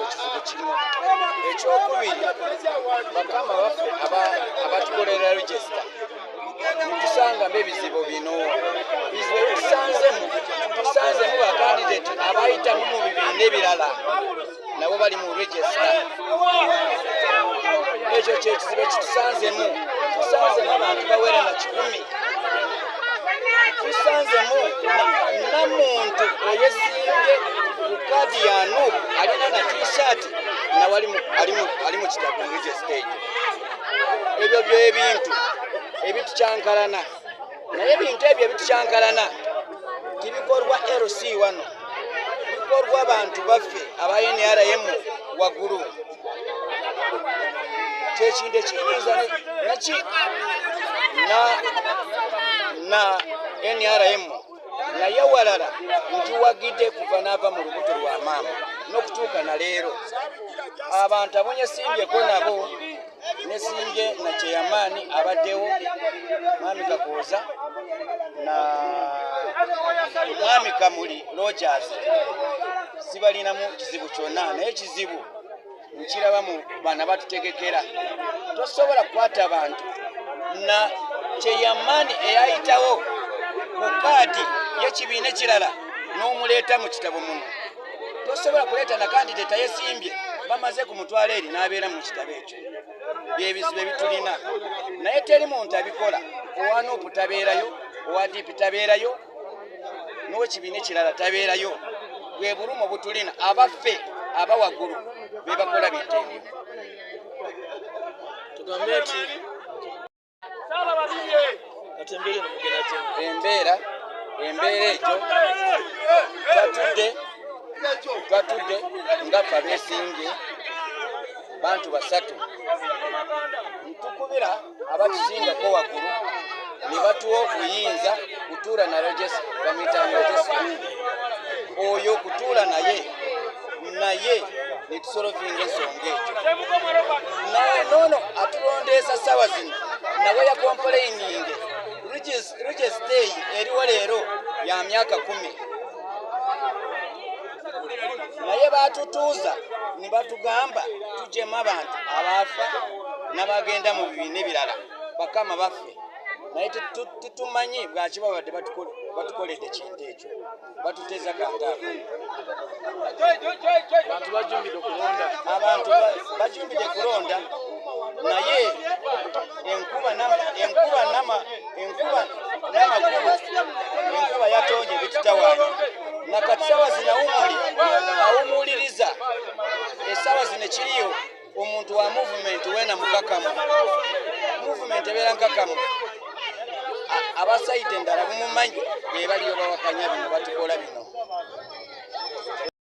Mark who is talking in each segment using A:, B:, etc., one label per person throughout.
A: ekizibu kimu ekyokubiri bakama baffe abatukolera regisita tusangamu ebizibu bino bizibu ebisanzemu tusanzemu bakandidate abayitamu mu bibiina ebirala nabo bali mu regisita ekyo kyekizibu ekitusanzemu tusanzemu abantu bawera na kikumi tusanzemu namuntu eyesimbye kukadi ya nup alina na tshirt nawe ali mu kitabo ngekyo stage ebyo byebintu ebitukyankalana naye ebintu ebyo ebitukyankalana tibikolwa lc wano bikolwa bantu baffe aba nrm wagulu kyekintu ekiyinza naki na na nrm naye walala nkiwagidde kuva naava mu lubuto lwa maama n'okutuuka na leero abantu abonye simbyeko nabo nesimbye na kyeyamaani abaddewo maami kakooza na maami kamuli rogers sibalinamu kizibu kyonna naye ekizibu nkiraba mu bana batutegekera tosobola kukwata bantu na kyeyamaani eyayitawo ku kaadi yekibiina ekirala n'omuleeta mu kitabo muno tosobola kuleeta na kandideta yesimbye bamaze ku mutwalo eri n'abeera mu kitabo ekyo byebizibu ebitulina naye teri muntu abikola owanuupu tabeerayo owa diipi tabeerayo n'ekibiina ekirala tabeerayo bwe bulumu butulina abaffe aba waggulu be bakola bitteeyo
B: tugambe
A: nti embeera embeera egyo twatudde twatudde nga fabesimbye bantu basatu ntukubira abatusingako waggulu ne batuwa okuyinza kutuula na rogesi bamuyitanga rogesi oyo okutuula naye naye netusolovinga ensonga ekyo nono atulondeesa sawa zino nawe yakompoleininge rugestei eriwo leero ya myaka kumi naye batutuuza ne batugamba tujemu abantu abaafa n'abagenda mu bibiina ebirala bakama baffe naye tetumanyi bwaki babadde batukoledde kintu ekyo batuteza kantaako
B: abantu
A: bajumbidde kulonda naye enkuba enkuba nama enkuba nama enkuba yatonye bititawana nakati sawa zinawumuli awumuliriza esawa zino kiriyo omuntu wa movement wena mukakamu movement ebeera nkakamu abasaide endala bumumanyi bebaliyo bawakanya bino batukola bino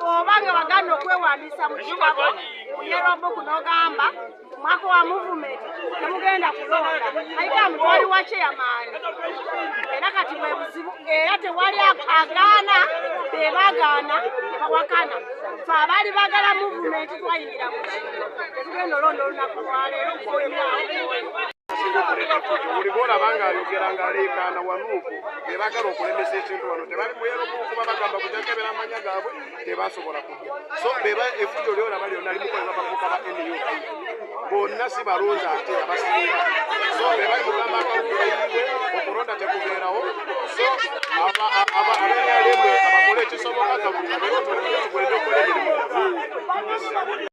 C: oba nga wagana okwewandiisa mu kitabo ku yerobuku n'ogamba mwaka wa muvumenti temugenda kulonda ayita mutwali wa kyeyamaani era kati bwe buzibu era tewali agaana be bagaana nebawakana fe abaali bagala muvumenti twayingira mu tetugenda olonda olunaku lwaleero kuoyaawo
D: buli bwolaba ng'ayogera ng'aleekaana wanuuku be bagala okulemesa ekintu wano tebali muyeromu okuba bagamba kujakebera amanya gaabwe tebasobola kujja so beba efujo lyolaba lyonna limukolera bavuka ba nup bonna si balonzi ate abasinga so bebali mugamba akawuka yiwe okulonda tekubeerawo so abenalemu abakole ekisoboka kabuka beotolekugenda okukola emirimu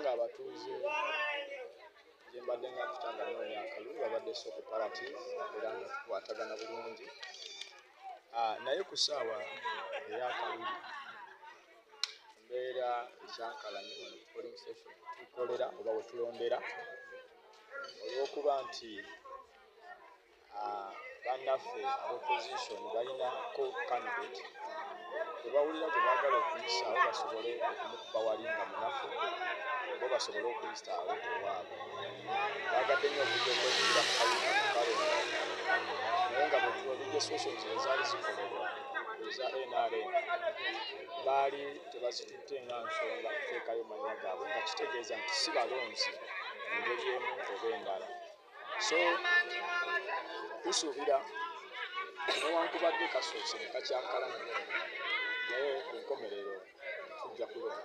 D: ng'abatuuze gyembadde nga kutanga noonya akalulu babadde soko parati era nga tukwatagana bulungi Ah, naye ku ssaawa eyakalulu mbeera ekyankalanye wano ku polling station tukolera oba wetulondera olwokuba nti ah, bannaffe abaopposition balinako candidate ebawulira gwe baagala okuyisaawo basobole okumukuba wali nga munafu bo basobole okuyisaawo ewaabwe baali tebazitutte nga nsonga kuteekayo manya gaabwe nga kitegeeza nti si balonzi engeri emu oba endala so tusuubira newankubadde kasoose ne kakyankalamu naye ku nkomerero tujja kulonda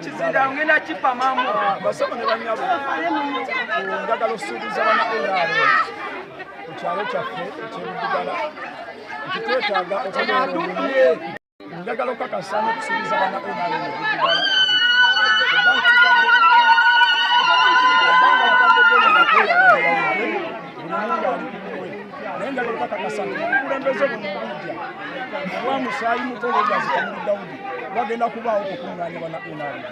E: ekizinda ngenda kipamamu basoma ne banyabo njagala okusuubiza bana nrm ku kyalo kyaffe ekyebudugala nti twetaaga okubeera njagala okukakasa n'okusuubiza bana nrm ebudugala naye nga lwekakakasa nti obukulembeze bwemukuja owa musaayi muto lwegazikamuli dawudi wagenda kubaawo okukuŋŋaanya bana nrd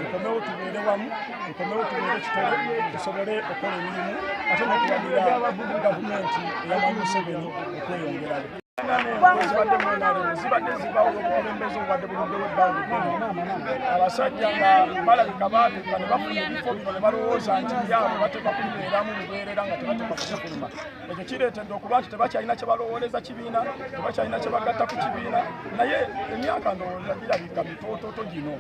E: tukomewo tubeere wamu tukomewo tubeere kitole tusobole okukola emirimu ate nokulabira gavumenti eyamanyi museveni okweyongerayo zibadde mwenaliro zibadde zibawo obukulembeze obubadde buluddewo ebbanga eddene abasajja nga balabika baatuka ne bafuna ebifo bino ne balowooza nti byabo bateeka kubibeeramu bubeerera nga tebateeka kukifuluma ekyo kireetedde okuba nti tebakyalina kye balowooleza kibiina tebakyalina kye bagatta ku kibiina naye emyaka ndowooza girabika mitoototo gino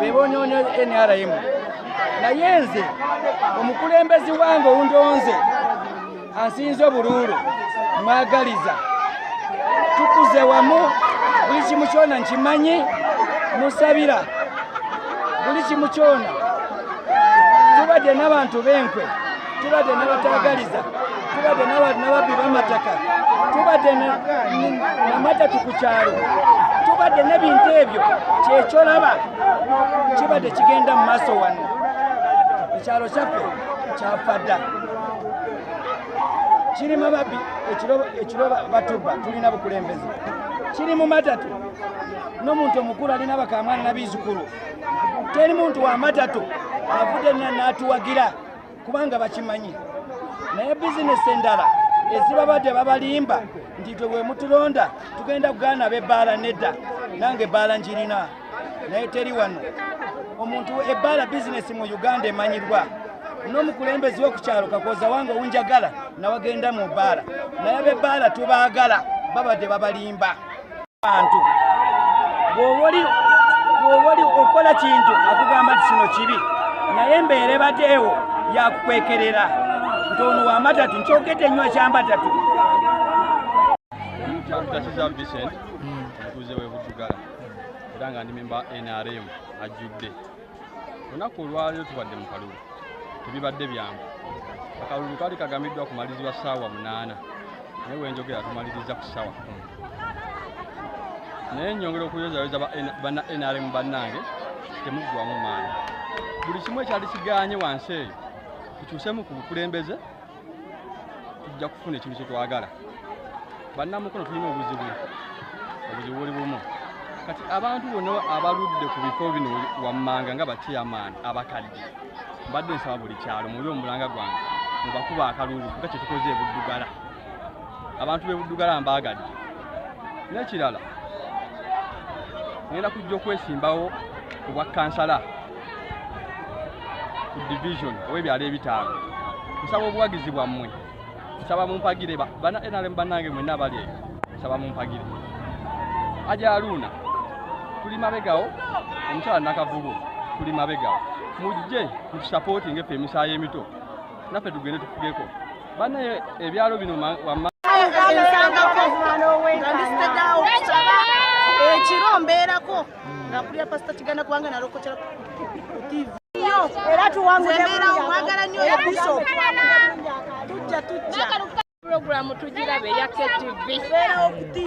A: bebonone nrm naye nze omukulembezi wange owundonze ansinze obuluulu mwagaliza tukuze wamu buli kimu kyona nkimanyi musabira buli kimu kyona tubadde n'abantu b'enkwe tubadde nabatagaliza tubadde nababbi bamataka tubadde namatatu ku kyalo tubadde nebintu ebyo kyekyolaba kibadde kigenda mu maaso wano ekyalo kyaffe kyafa dda kiri mababbi ekiro batubba tulina bukulembeze kiri mu matatu n'omuntu omukulu alina bakamwana nabiizukulu teri muntu wa matatu avudde nna n'atuwagira kubanga bakimanyi naye bizinesi endala ezibabadde babalimba nti twe bwemutulonda tugenda kugaana bebbaala nedda nange ebbaala njirina naye teri wano omuntu ebbaala bizinesi mu uganda emanyirwa n'omukulembezi w'okukyalo kakwoza wange owunjagala nawagenda mu bbaala naye bebbaala tubaagala babadde babalimba bantu bwoboli bwoboli okola kintu akugamba nti kino kibi naye embeera ebadeewo yakukwekerera nti ono wamatatu nkyogedde nnyo ekyamatatu
F: kyakutakisa vicent omutuuze webutugala era nga ndi memba nrm ajjudde olunaku olwaleero tubadde mu kalulu tebibadde byangu akalulu kali kagamiddwa kumalirizibwa ssaawa munaana naye wenjogera tumaliriza ku ssaawa kumi naye nyongera okuyozayoza bana nrm bannange temuggwamu maanyi buli kimu ekyali kigaanye wansi eyo tukyusemu ku bukulembeze tujja kufuna ekintu kyetwagala bannamukono tulina obuzibu obuzibu buli bumu kati abantu bona abaludde ku bifo bino wammanga nga bacheyamaani abakadde mbadde nsaba buli kyalo muli omulanga gwange mubakuba akalulu nga kyetukoze ebuddugala abantu bebuddugala mbaagadde n'ekirala ngenda kujja okwesimbawo obwa kansala ku division ow'ebyalo ebitaano nsaba obuwagizi bwammwe nsaba mumpagire bana nrm bannange mwenna abali eyo nsaba mumpagire ajaluuna tuli mabegawo omukyala nakavulu tuli mabegawo mujje mutusapootinga effe emisaayi emito naffe tugende tufugeko banaye ebyalo bino wamma
C: ekiro mbeerako nakulira pasita kiganda kubanga nalokotera tv era tuwanguembeerawo mwagala nyo ya bishop tujja tujja programu tugirabe ya ktv